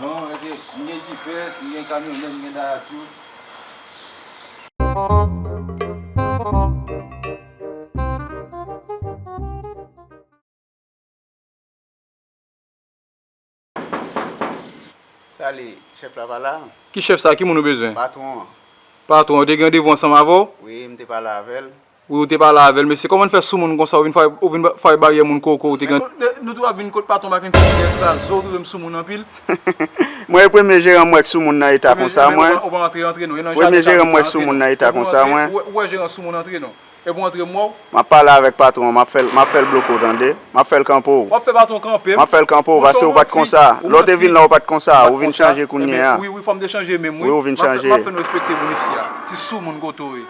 Non ok m gen dife, m gen kamyonèt, m gen dayatu. Sa li, chèf la pa la? Ki chèf sa? Ki moun ou bezwen? Patwon an. Patwon an te gen randevou ansanm avè w? Wi, m te pale avè l. Wi ou te pale avèl mesye kòman fè soumoun konsa ou vin fwaye baryè moun koko ou te gen. Nou tou ap vin kot paton baken ti chien antuka zo rive m soumoun anpil. Mwen e premye jeran m wè k soumoun nan eta konsa mwen. Ou pa antre antre non e nan jaden Premye jeran m wè k soumoun nan eta konsa mwen. Ou wè jeran soumoun antre non e pou antre mwen w. Map pale avèk patron an map fèl map fèl bloke w tande map fèl kanpe w. Wap fè patron kanpe m. Map fèl kanpe w paske ou pat konsa lè w te vin la ou pat konsa ou vin chanje kounyea. Wi wi fòm te chanje menm wi. Wi ou vin chanje. Map fè nou respekte moun isi a ti soumoun koto w ye.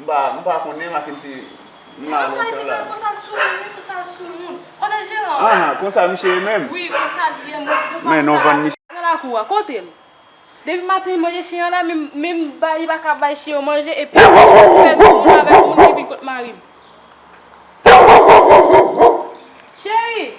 M pa m pa konnen Makendy m la lontan la. Konsa l sou moun wi konsa l sou moun. Kote jeran an? Anhan konsa misye ye menm? Wi konsa l ye moun pou pam sa. Nan lakou a. Kote l? Depi maten li manje chen an la menm menm bay li paka bay chen yo manje epi l fè sou moun avèk moun ki vin kot mari m. Cheri!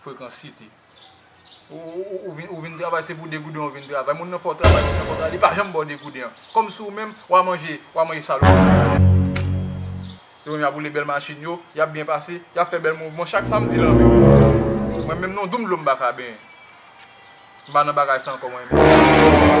Frekan city ou vin travay se pou 2 gouden ou vin travay moun nan fè w travay moun nan fè w travay li pa janm ba w 2 gouden an kòm si ou menm wa manje wa manje salopri yo menm yap woule bèl machin yo yap byen pase yap fè bèl mouvman chak samdi lanmè mwen menm non doum dlo m paka benyen m pa nan bagay sa ankò mwen menm.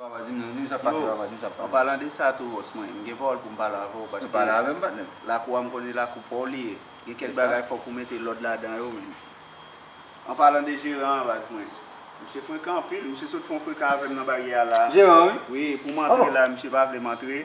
An palan de sa tou Ross mwen gen pawòl pou m pale avè w paske lakou a m konnen lakou pa w li ye gen kèk bagay fòk ou mete lòd ladan yo menn An palan de jeran an baz mwen misye frekan anpil misye sot fè yon frekan avè m nan baryè a la wi pou m antre la misye pa vle m antre.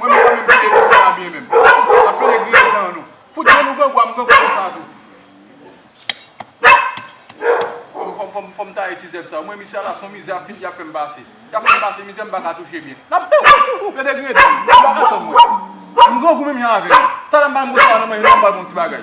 Mwen menm pa menm kite nou sa a byen menm. Nap plede griyen dan nou. Fout grenn ou grangou a m grangou konsa tou. Fòm taye ti zèb sa yo. Mwen misye ala son mizè ap fin yap fèm pase. Yap fèm pase mizè m pa ka touche byen. Nap plede griyen dan nou. Ou pa ka tann mwen. M grangou menm jan avè nou. Talè m pa menm gen sa nan manje m pral pran yon ti bagay.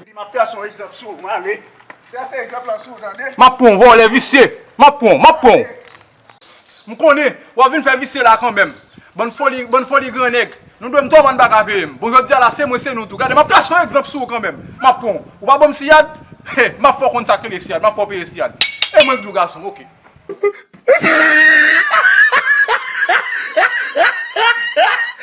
Epi map trase yon egzanp sou ou male. Trase egzanp lan sou ou tande. Map pran w vòlè visye. Map pran w, map pran w. M konnen wap vin fè visye la kanmenm. Bann foli, bann foli gran nèg. Nou dwe m twòp ann paka veye m. Bon jodi a la se mwen se nou tou. Gade map trase yon egzanp sou ou kanmenm. Map pran w. Ou pa banm siyad? He, map fè w konn sak rele siyad. Map fè w peye siyad. E mwen k di w gason m ok.